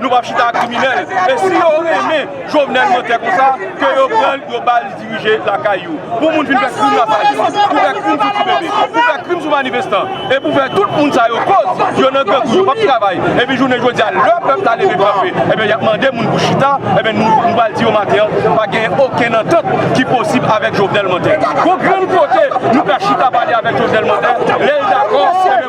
Nou pap chita ak kriminel e si yo renmen jovenel mantè konsa ke yo pranl yo bal dirije lakay yo pou moun vin fè krim la sa yo pou fè krim sou ti bebe pou fè krim sou manifestan e pou fè tout moun sa yo koz yo nan grangou yo pap travay e pi jounen jodi a lè pèp la leve kanpe e ben yap mande moun pou chita e ben nou nou bal di yo maten an pa gen okenn antant ki posib avèk jovenel mantè gon grenn kote nou ka chita pale avèk jovenel mantè lèl dakò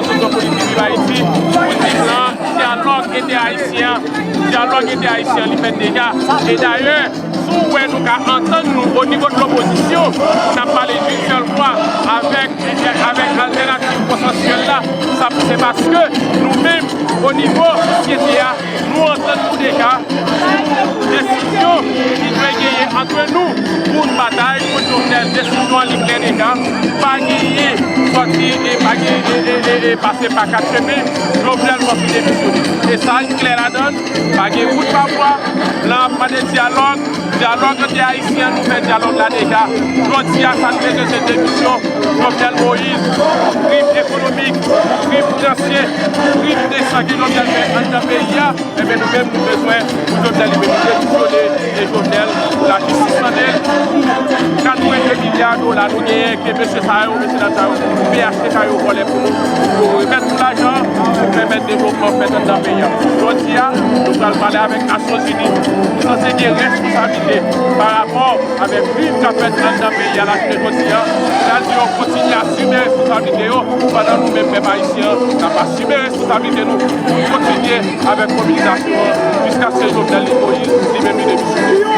Seksyon politik viv Ayiti, Politik lan, dyalòg entè-ayisyen, dyalòg entè-ayisyen li fèt deja, e dayè si w wè nou ka antann nou o nivo de lopozisyon pou n ap pale d'un sèl vwa avèk altènativ konsansyèl la, sa se paske nou menm o nivo sosyete a, Nou antann pou deka sou desizyon ki dwe genyen antre nou pou n batay kont Jovenel. Desizyon an li klè deka, pa genyen sòti e pa genyen e pase pa kat chemen, Jovenel fòk li demisyone. Mesaj klè ladann, pa gen wout pa bwa, blan ap mande dyalòg. Dyalòg ante Ayisyen an nouvel dyalòg la deja, jodi a sa n bezwen se demisyon Jovenel Moïse pou krim ekonomik, pou krim finansye, pou krim de san ke Jovenel fè anndan peyi a, enben nou menm nou bezwen pou Jovenel li menm demisyone e Jovenel pou lajistis mande l pou 82 milya dola nou genyen ke mesye sa yo, mesye dam sa yo, phtk yo vòlè pou nou, pou yo remèt nou lajan an pou pèmèt devlopman fèt anndan peyi a. Jodi a nou pral pale avèk. Nasyonzini ki sanse gen responsabilite pa rapò avèk krim k ap fèt anndan peyi a lakile jodi a, pral di yo kontinye asime responsabilite yo pandan nou menm pèp ayisyen an n ap asime responsabilite nou pou n kontinye avèk mobilizasyon an jiskaske Jovenel Li Moïse li menm li demisyone.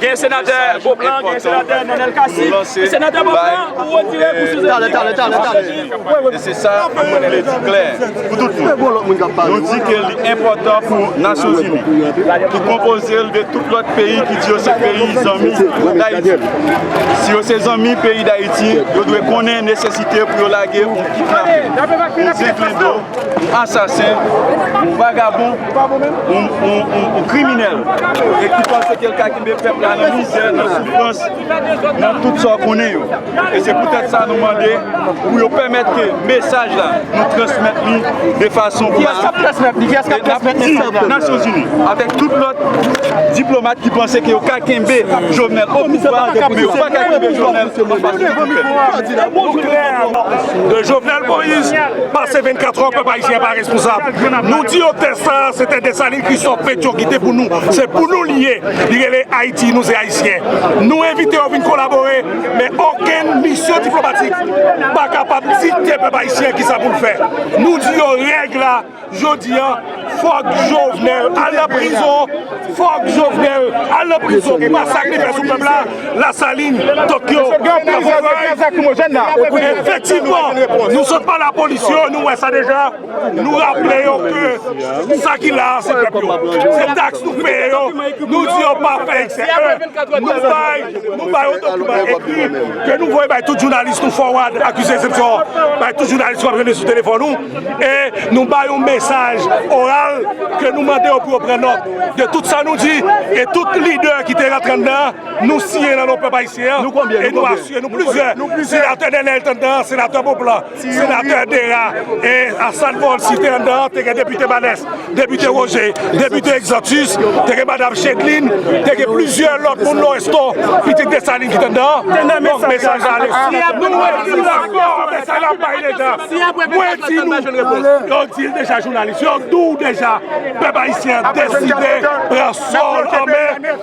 Gen senatè Beauplan, gen senatè Nenel Cassy, senatè Beauplan ou retire pou sou zepil e se sa nou vle di klè pou tout moun nou di ke li enpòtan pou Nasyonzini ki konpoze l de tout lòt peyi ki di yo se peyi zanmi Dayiti si yo se zanmi peyi Dayiti yo dwe konnen nesesite pou yo lage yon kidnapè, yon zenklendo, yon asasen yon vagabon. yon kriminèl e ki panse ke l ka kenbe pèp la nan mizè, nan soufrans, nan tout sa w konnen yo. E se poutèt sa nou mande pou yo pèmèt ke mesaj la nou transmèt li de fason pou sa. E n ap di Nasyonzini avèk tout lòt diplomat ki panse ke yo ka kenbe Jovenel o pouvwa, men yo pa ka kenbe Jovenel an fas tout moun pèp. Jovenel Moïse pase 24 an pèp ayisyen pa responsab. Nou di yo tè sa a se tè Desalin Kristòf Petyon kite pou nou. Se pou nou li ye. Li rele Ayiti, nou se Ayisyen. Nou envite yo vin kolabore, men okenn misyon diplomatik pa kapab dikte pèp Ayisyen kisa pou l fè. Nou di yo règ la jodi a, fòk Jovenel al nan prizon, fòk Jovenel al nan prizon pou masak li fè sou pèp la, Lasalin, Tokyo, Lafonray. Efektivman, nou sot pale a polis yo, nou wè sa deja. Nou raple yo ke sa ki la a se pèp yo, se taks nou peye yo, nou di yo pa fè eksè 1, nou bay yon dokiman ekri ke nou voye bay tout jounalis nou fowad akize eksepsyon an bay tout jounalis nou ap jwenn sou telefòn nou e nou bay yon mesaj oral ke nou mande yo pou yo pran nòt de tout sa nou di e tout lidè ki te rantre anndan an nou siyen nan non pèp ayisyen an e nou asye nou plizyè senatè Nenel te anndan an, senatè Beauplan. Senatè Dera e Assane Forlcy te anndan an, te gen depite Balès, depite Roger, depite Exantus, te gen madam Chedeline, te gen plizyè lòt moun Loresto, pitit Dessalines ki te anndan an. Donk mesaj la ale. Nou wè si l akò a mesaj l ap bay deja. Mwen di nou, yo di l deja jounalis, yo di w deja pèp ayisyen an deside pran sò l an men.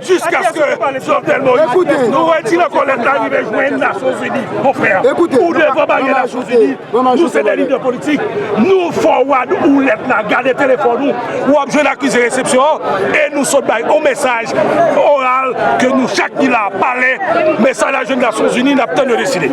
Jiskaske Jovenel Moïse nou retire kòlèt la rive jwenn Nasyonzini konfrè ou devan baryè Nasyonzini nou se de lidè politik nou foward ou lèt la gade telefòn ou wap jwenn akize resepsyon an e nou sot bay yon mesaj oral ke nou chak ki la pale mesaj la jwenn Nasyonzini nap tann yo deside.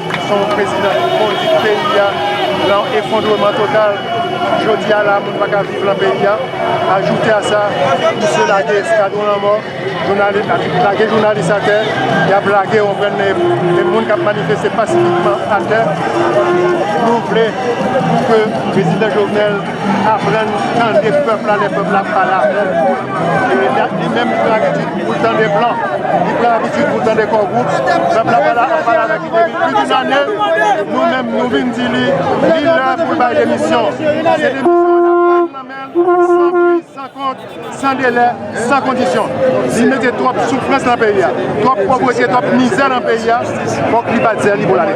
Se yon prezidan ki kondwi peyi a lan efondreman total. Jodi a la moun pa ka viv lan peyi a. Ajoute a sa, misye lage eskadron lanmò, lage jounalis atè, y ap lage yon grenn de moun k ap manifeste pasifikman atè. Nou vle pou ke prezidan Jovenel aprann tande pèp la lè pèp la ap pale avè l. Li menm pran abitid pou l tande blan, li pran abitid pou l tande Core Group, pèp la pale avèk li depi plis doun ane, nou menm nou vin di li, li lè pou l bay demisyon. Se demisyon an ap bay nou nan men l, san pri, san kont, san delè, san kondisyon. Li mete twòp soufrans nan peyi a, twòp povrete, twòp mizè nan peyi a, fòk li bat zèl li pou l ale.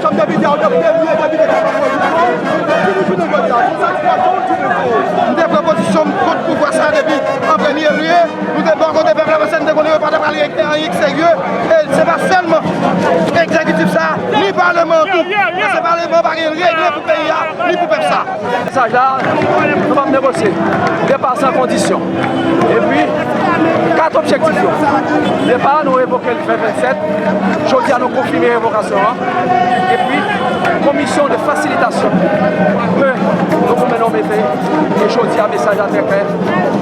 Chanm Depite a ou te premye depite ki te pran pozisyon, ki nou jounen jodi a, ki satisfaksyon ou tire sou ou? M te pran pozisyon m kont pouvwa sa depi an premye lye, nou te bò kote pèp la paske nou te konnen yo pa t apral regle anyen ki serye, e se pa sèlman Egzekitif sa ni Paleman an tou, paske Paleman pa gen regle pou peyi a ni pou pèp sa. Mesaj la, nou pap negosye depa san kondisyon. Epi, 4 objektif yo. Depa a nou revoke l me 27, jodi a nou konfime revokasyon an. Epi, komisyon de fasilitasyon ke Dogonmen nou mete, e jodi a mesaj la trè klè,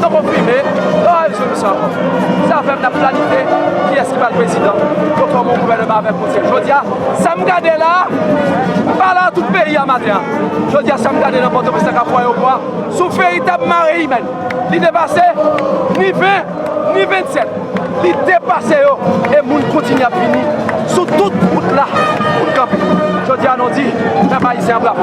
nou konfime, pa gen rezolisyon ankò. Se avè m n ap planifye kiyès ki pral prezidan, pou fòme yon gouvèneman avèk konsèy. Jodi a, sa m gade la, m pale a tout peyi a maten an. Jodi a sa m gade nan Pòtoprens ak Kapwa yo bwa sou veritab mare imèn. Li depase ni 20, ni 27. Li depase yo e moun kontinye ap vini sou tout wout la pou n kanpe. Jodi a nou di pèp ayisyen an bravo.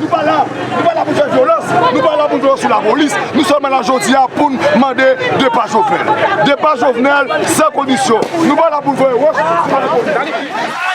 Nou pa la Nou pa la pou fè vyolans Nou pa la pou vyolans sou la polis Nou sèlman la jodi a poun mande depa Jovenel Depa Jovenel san kondisyon Nou pa la pou voye wòch sou la polis.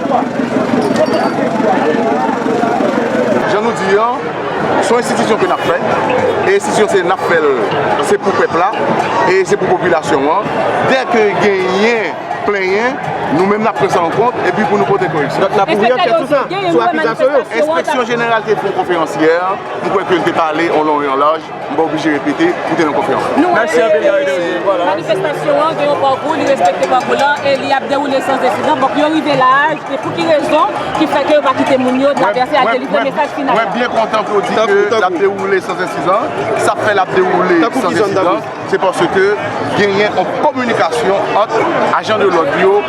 Jan nou di an, son enstitisyon ke nap fè, e enstitisyon se nap fèl se pou pèp la, e se pou popilasyon an, dè ke genyen plenyen, nou menm nap pran sa an kont, epi pou nou pote koreksyon. Donk nap ouvri ankèt sou sa, sou akizasyon yo. Enspeksyon jeneral te fon konferans yè, mwen kwè ke l te pale an lon e an laj. M pa oblije repete pou te nan konfyans. Nou wè ke manifestasyon an gen yon pawkou, li respekte pawkou la e li ap dewoule san ensidan. Bon, pou yo rive la a, se pou ki rezon ki fè ke yo pa kite moun yo travèse al delivre mesaj final la? Mwen byen kontan ke w di ke l ap dewoule san ensidan. Sa fè l ap dewoule san ensidan, se paske genyen yon kominikasyon ant ajan de lòd yo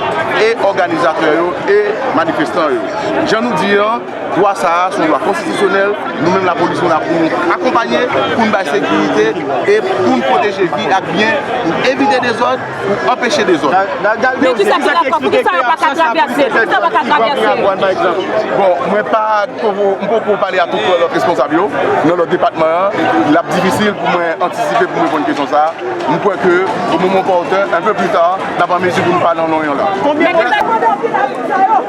e òganizatè yo e manifestan yo. Jan nou di an. Lwa sa a se yon lwa konstitisyonèl, nou menm lapolis nou la pou nou akonpanye, pou n bay sekirite e pou n pwoteje vi ak byen, pou n evite dezòd, pou n anpeche dezòd. Men kisa ki la fwa? Poukisa yo pa ka travèse? Poukisa yo pa ka travèse? Bon, mwen pa, m poko pale a tout lòt responsab yo nan lòt depatman an, l ap difisil pou mwen antisipe pou m reponn kesyon sa a. M kwè ke o moman opòtun, un peu plus tard, n ap an mezi pou nou pale an lon e an laj. Men kisa yo mande ofital moun sa yo?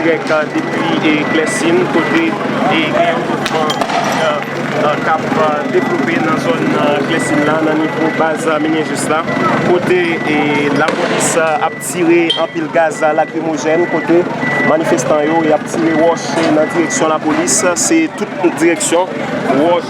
Greg depi Clercine kote gen yon mouvman k ap devlope nan zòn Clercine la nan nivo baz Minijis la kote lapolis ap tire anpil gaz lakrimojèn kote manifestan yo y ap tire wòch nan direksyon lapolis se tout direksyon wòch.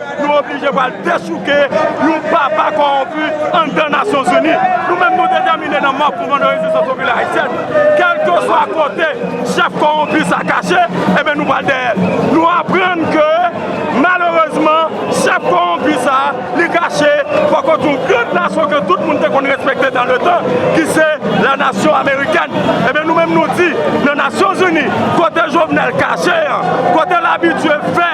Nou oblije pral dechouke yon papa kowonpi anndan Nasyon Zini. Nou menm nou detèmine nan mò Mouvman de Rezistans Popilè Ayisyèn, kèlkeswa kote chèf kowonpi sa kache, enben nou pral dèyè l. Nou aprann ke malerezman chèf kowonpi sa li kache bò kot yon gran nasyon ke tout moun te konn respekte dan le tan ki se la Nasyon Amerikèn. Enben nou menm nou di nan Nasyon Zini kote Jovenel kache an, kote l abitye fè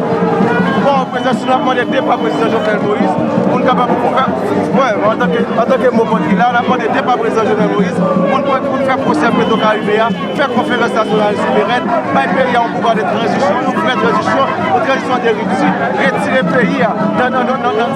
Paw prezidan si nou ap mande depa prezidan jovenel moïse pou n kapab antanke mou vòt li la nap mande depa prezidan jovenel moïse pou n fè pwosè petro karibe a fè konferans nasyonal souverèn bay peyi a yon pouvwa de tranzisyon yon vrè tranzisyon yon tranzisyon de ripti retire peyi a nan nan nan nan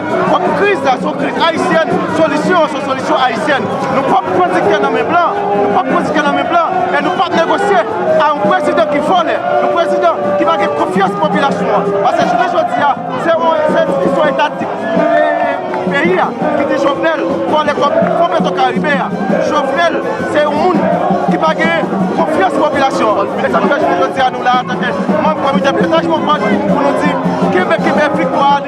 Pwòp kriz la se yon kriz ayisyèn, solisyon an se yon solisyon ayisyèn. Nou p ap pran diktè nan men blan, nou p ap pran diktè nan men blan e nou p ap negosye a yon prezidan ki vòlè, yon prezidan ki pa gen konfyans popilasyon an. Pase jounen jodi a, se enstitisyon etatik peyi a ki di Jovenel vòlè kòb Fon Petrokaribe a. Jovenel se yon moun ki pa gen konfyans popilasyon an. E sa ki fè jounen jodi a nou la a antanke manm komite pilotaj Movements pou nou di kenbe, kenbe viktwa a.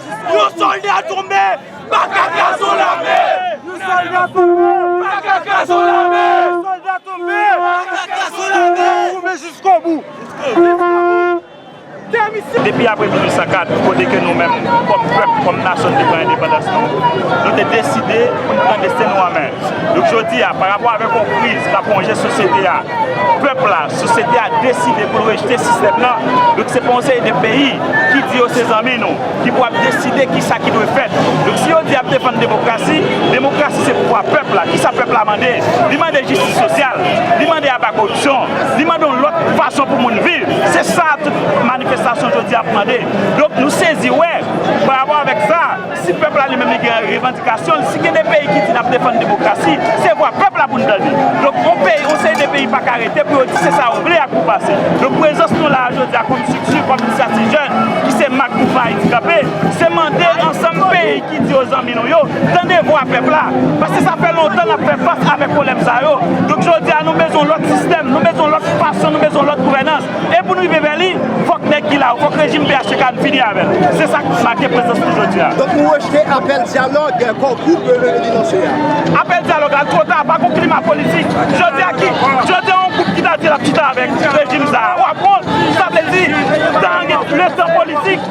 Yon solda tonbe paka kraze w lame. Yon solda tonbe paka kraze w lame. Yon solda tonbe paka kraze w lame. Tonbe jiskobou, jiskobou. Depi apre 1804, kote ke nou menm kòm pèp, kòm nasyon te pran endepandans nou, nou te deside pou nou pran desten nou an men. Donk jodi a, pa rapò avèk yon kriz k ap wonje sosyete a, pèp la, sosyete a deside pou l rejte sistèm nan. Donk se pa yon seri de peyi. ki di yo se zanmi nou, ki pou ap deside ki sa ki dwe fèt. Donk si yo di yap defann demokrasi, demokrasi se pouvwa pèp la. Ki sa pèp la mande? Li mande jistis sosyal, li mande aba koripsyon, li mande yon lòt fason pou moun viv. Se sa tout manifestasyon jodi a ap mande. Donk nou sezi wè, pa rapò avèk sa, Si pèp la li menm li gen revandikasyon l, si gen de peyi ki di nap defann demokrasi, se vwa pèp la pou n tande. Donk yon peyi, yon seri de peyi pa ka rete pou yo di se sa yo vle ak pou pase. Donk prezans nou la a jodi a kòm strikti, kòm Inisyativ Jèn ki se mak Mouvman Ayiti Kanpe, se mande ansanm peyi ki di yo zanmi nou yo, tande vwa pèp la. Paske sa fè lontan nap fè fas avèk pwoblèm sa yo. Donk jodi a nou bezwen yon lòt sistèm, nou bezwen yon lòt fason, nou bezwen yon lòt gouvènans. E pou n rive vè li, fòk nèg ki la yo, fòk rejim phtk a, n fini avè l. Se sa k make prezans nou jodi a. Donk nou rejte apèl dyalòg Kò Group Revenu lanse a? Apèl dyalòg la two ta, pa gon klima politik. Jodi a ki, jodi a yon gwoup ki ta di l ap chita avèk rejim sa a, w ap wont. Sa vle di, tan an gen, le san politik.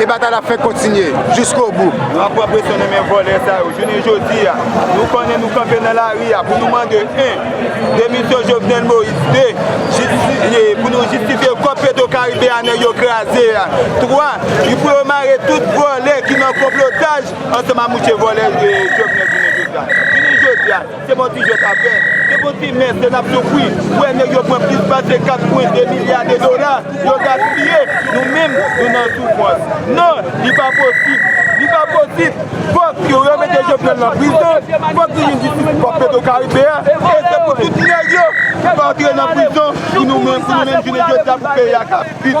E batay la ap fèk kontinye jiskobou. Nou ap pran presyon nan men vòlè sa yo. Jounen jodi a, nou konnen nou kanpe nan lari a pou nou mande 1. Demisyon Jovenel Moïse 2. Pou nou jistifye kòb Petro Caribe a nèg yo kraze a 3. Pou yo mare tout vòlè ki nan konplotaj ansanm a mouche vòlè Jovenel jounen jodi a. Se manti yo tap fè. Se pou ti mès ke nap soufri. Ou wè nèg yo pran plis pase 4 pwen 2 milya de dola yo gaspiye. Nou menm nou nan soufrans. Non, li pa posib. Li pa posib. Fòk yo remete Jovenel nan prizon. Fòk li jwenn jistis pou Petro Caribe a. E se pou tout nèg yo antre nan prizon pou nou menm jounen jodia pou peyi a ka viv.